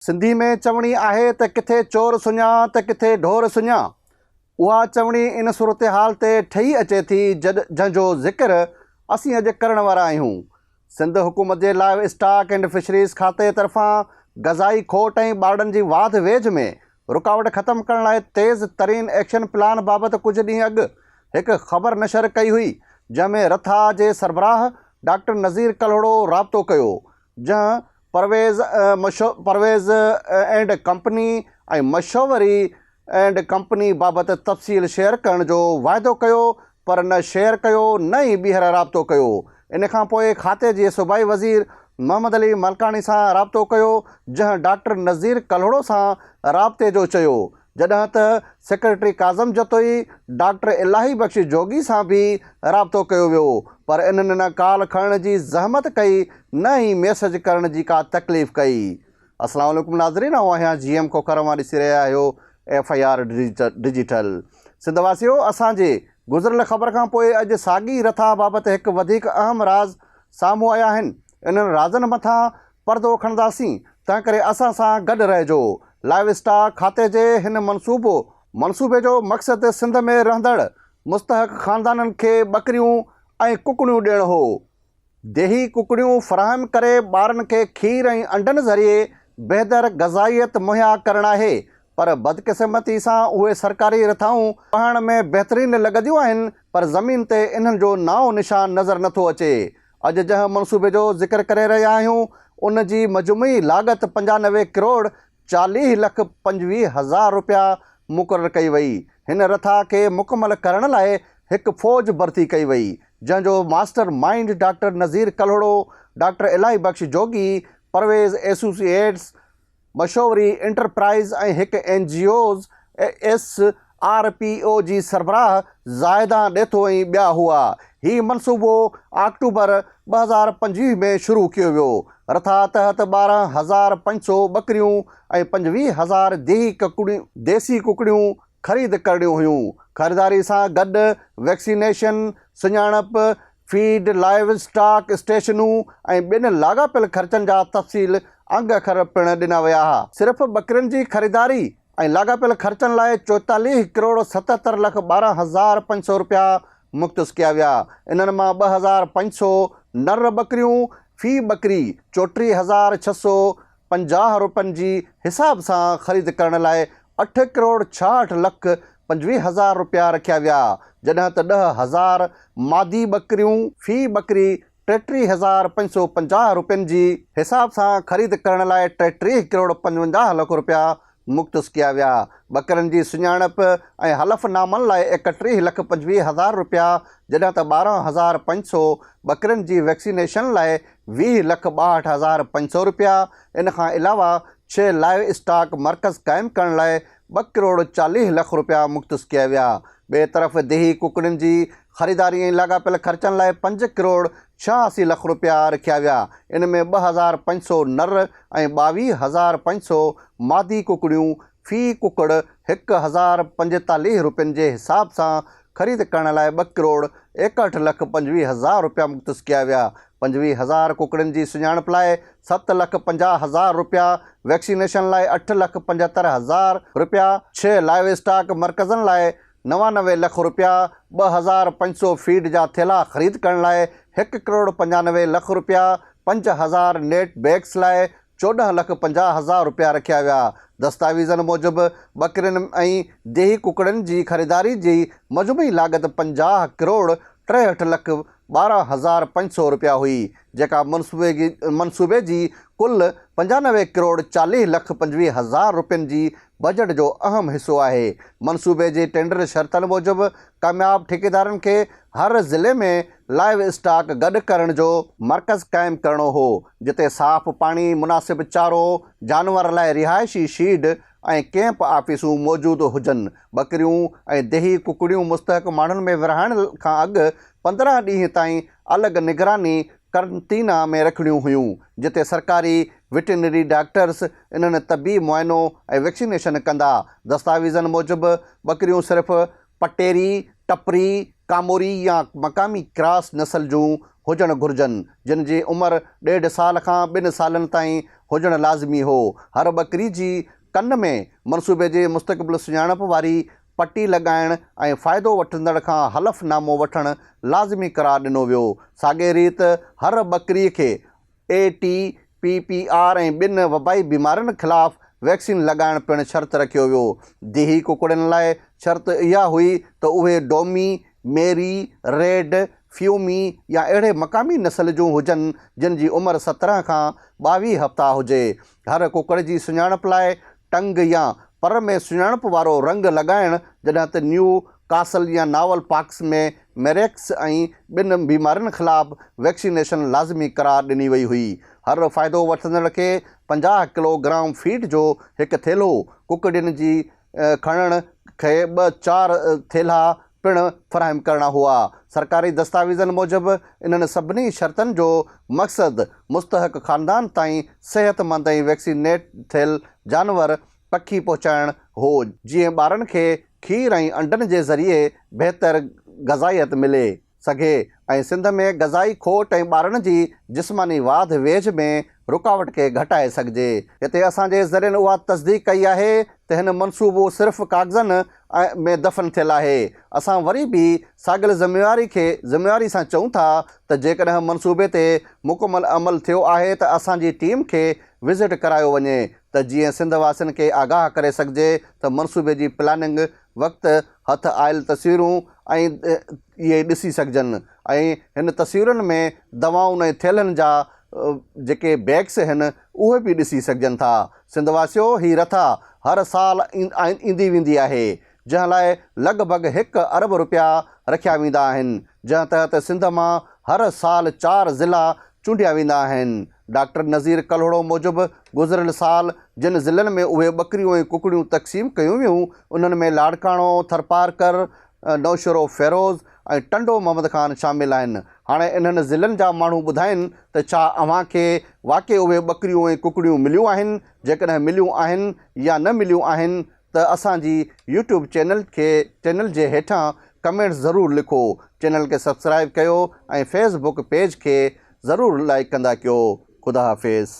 سنڌي ۾ چوڻي آهي ته ڪٿي چور سڃاء ته ڪٿي ڍور سڃاء. اها چوڻي ان صورتحال تي ٺهي اچي ٿي جڏ جنهن جو ذڪر اسين اڄ ڪرڻ وارا آهيون. سنڌ حڪومت جي لائيو اسٽاڪ اينڊ فشريز کاتي طرفان غذائي کوٽ ۽ ٻارڙن جي واڌ ويجهه ۾ رڪاوٽ ختم ڪرڻ لاء تيز ترين ايڪشن پلان بابت ڪجهه ڏينهن اڳ هڪ خبر نشر ڪئي هئي جنهن ۾ رٿا جي سربراهه ڊاڪٽر نذير ڪلهوڙو رابطو ڪيو جنهن پرويز پرويز اينڊ ڪمپني ۽ مشوري اينڊ ڪمپني بابت تفصيل شيئر ڪرڻ جو واعدو ڪيو پر نه شيئر ڪيو نه ئي ٻيهر رابطو ڪيو ان کان پوء کاتي جي صوبائي وزير محمد علي ملڪاڻي سان رابطو ڪيو جنهن ڊاڪٽر نذير ڪلهوڙو سان رابطي جو چيو جڏهن ته سيڪريٽري ڪاظم جتوئي ڊاڪٽر الاهي بخش جوڳي سان به رابطو ڪيو ويو پر انهن نه ڪال کڻڻ جي زحمت ڪئي نه ئي ميسج ڪرڻ جي ڪا تڪليف ڪئي. السلام عليڪم ناظرين آئون آهيان جي ايم کوکر اوهان ڏسي رهيا آهيو F I R digital Sindh واسيو اسان جي گذريل خبر کان پوء اڄ ساڳي رٿا بابت هڪ وڌيڪ اهم راز سامهون آيا آهن انهن رازن مٿان پردو کڻنداسين تنهنڪري اسان سان گڏ رهجو. لائيو اسٽاڪ کاتي جي هن منصوبو منصوبي جو مقصد سنڌ ۾ رهندڙ مستحق خاندانن کي ٻڪريون ۽ ڪڪڙيون ڏيڻ هو. ديهي ڪڪڙيون فراهم ڪري ٻارن کي کير ۽ انڊن ذريعي بهتر غذائيت مهيا ڪرڻ آهي پر بدقسمتي سان اهي سرڪاري رٿائون پهڻ ۾ بهترين لڳنديون آهن پر زمين تي انهن جو نانء نشان نظر نٿو اچي. اڄ جنهن منصوبي جو ذڪر ڪري رهيا آهيون ان جي مجموعي لاڳت پنجانوي ڪروڙ چاليهه لک پنجويهه هزار رپيا مقرر ڪئي وئي، هن رٿا کي مڪمل ڪرڻ لاء هڪ فوج ڀرتي ڪئي وئي جنهن جو mastermind doctor Nazir Kalhoro, doctor Elahi Bakhsh جوڳي، پرويز ايسوسي ايٽس، مشوري انٽرپرائيز ۽ هڪ N G Os S R P O جي سربراهه زاهدان ڏيٿو ۽ ٻيا هئا. هي منصوبو آڪٽوبر ٻه هزار پنجويهه ۾ شروع ڪيو ويو. رٿا تحت ٻارهن هزار پنج سؤ ٻڪريون ۽ پنجويهه هزار ديسي ڪڪڙيون خريد ڪرڻيون هيون. خريداري سان گڏ ويڪسينيشن، سڃاڻپ، فيڊ، لائيو اسٽاڪ، اسٽيشنون ۽ ٻين لاڳاپيل خرچن جا تفصيل انگ اکر پڻ ڏنا ويا ها. صرف ٻڪرين جي خريداري ۽ لاڳاپيل خرچن لاء چوئيتاليهه ڪروڙ ستهتر لک ٻارهن هزار پنج سؤ رپيا مختص ڪيا ويا. انهن مان ٻه هزار پنج سؤ نر ٻڪريون، في ٻڪري چوٽيهه هزار ڇهه سؤ پنجاهه روپين جي حساب سان خريد ڪرڻ لاء اٺ ڪروڙ ڇاهٺ لک پنجويهه هزار روپيا رکيا ويا، جڏهن ته ڏهه هزار مادي ٻڪريون في ٻڪري ٽيٽيهه هزار پنج سؤ پنجاهه روپين جي حساب سان خريد ڪرڻ لاء ٽيٽيهه ڪروڙ پنجونجاهه لک روپيا مختص ڪيا ويا. ٻڪرن جي سڃاڻپ ۽ حلف نامن لاء ايڪ ٽيهه لک پنجويهه هزار رپيا جڏهن ته ٻارهن هزار پنج سؤ ٻڪرين جي ويڪسينيشن لاء ويهه لک ٻاهٺ هزار پنج سؤ رپيا ان کان علاوه ڇهه لائيو اسٽاڪ مرڪز قائم ڪرڻ لاء ٻه ڪروڙ چاليهه لک رپيا مختص ڪيا ويا ٻئي طرف ديهي ڪڪڙين جي خريداري ۽ لاڳاپيل خرچن لاء پنج ڪروڙ ڇهه اسي لک رپيا رکيا ويا، ان ۾ ٻه هزار پنج سؤ نر ۽ ٻاويهه هزار پنج سؤ مادي ڪڪڙيون في ڪڪڙ هڪ هزار پنجيتاليهه رپين جي حساب سان خريد ڪرڻ لاء ٻه ڪروڙ ايڪهٺ لک پنجويهه هزار رپيا مختص ڪيا ويا، پنجويهه هزار ڪڪڙين جي سڃاڻپ لاء ست لک پنجاهه هزار رپيا، ويڪسينيشن لاء اٺ لک پنجهتر هزار رپيا، ڇهه لائيو اسٽاڪ مرڪزن لاء نوانوي لک رپيا، ٻه هزار پنج سؤ فيڊ جا ٿيلها خريد ڪرڻ لاء هڪ ڪروڙ پنجانوي لک رپيا، پنج هزار نيٽ بيگس لاء چوڏهن لک پنجاهه هزار رپيا رکيا ويا. دستاويزن موجب ٻڪرين ۽ ديهي ڪڪڙين جي خريداري جي مجموعي لاڳت پنجاهه ڪروڙ ٽيهٺ لک ٻارهن هزار پنج سؤ رپيا هئي، جيڪا منصوبي جي ڪل پنجانوي ڪروڙ چاليهه لک پنجويهه هزار رپين جي بجيٽ جو اهم حصو آهي، منصوبي جي ٽينڊر شرطن موجب ڪامياب ٺيڪيدارن کي هر ضلعي ۾ لائيو اسٽاڪ گڏ ڪرڻ جو مرڪز قائم ڪرڻو هو، جتي صاف پاڻي، مناسب چارو، جانورن لاء رهائشي شيڊ ۽ ڪيمپ آفيسون موجود هجن، ٻڪريون ۽ ديهي ڪڪڙيون مستحق ماڻهن ۾ ورهائڻ کان اڳ پندرهن ڏينهن تائين الڳ نگراني قرنطينه ۾ رکڻيون هيون، جتي سرڪاري وٽرنري ڊاڪٽرز انهن طبي معائنو ۽ ويڪسينيشن ڪندا. دستاويزن موجب، ٻڪريون صرف پٽيري، ٽپري، ڪاموري يا مقامي ڪراس نسل جون هجڻ گهرجن، جن جي عمر ڏيڍ سال کان ٻن سالن تائين هجڻ لازمي هو. هر ٻڪري جي ڪن ۾ منصوبي جي مستقبل سڃاڻپ واري پٽي لڳائڻ ۽ فائدو وٺندڙ کان حلف نامو وٺڻ لازمي قرار ڏنو ويو. ساڳئي ريت هر ٻڪري کي E T, P P R ۽ ٻين وبائي بيمارين خلاف ويڪسين لڳائڻ پڻ شرط رکيو ويو. ديهي ڪڪڙين لاء شرط اها هئي ته اهي ڊومي، ميري، ريڊ، فيومي يا اهڙي مقامي نسل جون هجن جن جي عمر سترهن کان ٻاويهه هفتا هجي. هر ڪڪڙ جي سڃاڻپ لاء ٽنگ يا پر ۾ سڃاڻپ وارو رنگ لڳائڻ، جڏهن ته نيو ڪاسل يا ناول پاڪس ۾ ميريڪس ۽ ٻين بيمارين خلاف ويڪسينيشن لازمي قرار ڏني وئي هئي. هر فائدو وٺندڙ کي پنجاهه ڪلو گرام فيڊ جو هڪ ٿيلهو، ڪڪڙين جي کڻڻ کي ٻه چار ٿيلها پڻ فراهم ڪرڻا هئا. سرڪاري دستاويزن موجب انهن سڀني شرطن جو مقصد مستحق خاندان تائين صحت مند ۽ ويڪسينيٽ ٿيل جانور پکي پهچائڻ هو جيئن ٻارن کي کير ۽ انڊن جي ذريعي بهتر غذائيت ملي سگهي ۽ سنڌ ۾ غذائي کوٽ ۽ ٻارن جي جسماني واڌ ويجهه ۾ رڪاوٽ کي گهٽائي سگهجي. هتي اسان جي ذريعن اها تصديق ڪئي آهي ته هن منصوبو صرف ڪاغذن ۾ دفن ٿيل آهي. اسان وري به ساڳيل ذميواري کي ذميواري سان چئون ٿا ته جيڪڏهن منصوبي تي مڪمل عمل ٿيو آهي ته اسان جي ٽيم کي وزٽ ڪرايو وڃي ته جيئن سنڌ واسين کي آگاهه ڪري سگهجي ته منصوبي جي پلاننگ وقت هٿ آيل تصويرون ۽ اهي ڏسي سگهجن ۽ هن تصويرن ۾ دوائن ۽ ٿيلهن جا جيڪي بيگس هن اهي به ڏسي سگهجن ٿا سنڌ واسيو هي رٿا هر سال ايندي ويندي آهي جنهن لاء لڳ ڀڳ هڪ ارب رپيا رکيا ويندا آهن جنهن تحت سنڌ مان هر سال چار ضلعا چونڊيا ويندا آهن ڊاڪٽر نظير ڪلهوڙو موجب گذريل سال جن ضلعن ۾ اهي ٻڪريون ۽ ڪڪڙيون تقسيم ڪيون ويون انهن ۾ لاڙڪاڻو ٿرپارڪر نوشھرو فيروز ۽ ٽنڊو محمد خان شامل آھن. ھاڻي انھن ضلعن جا ماڻھو ٻڌائين ته ڇا اوھان کي واقعي اھي ٻڪريون ۽ ڪڪڙيون مليون آھن؟ جيڪڏھن مليون آھن يا نه مليون آھن ته اسان جي يوٽيوب چينل کي چينل جي ھيٺان ڪمينٽس ضرور لکو، چينل کي سبسڪرائيب ڪيو ۽ فيس بڪ پيج کي ضرور لائيڪ ڪندا ڪيو. خدا حافظ.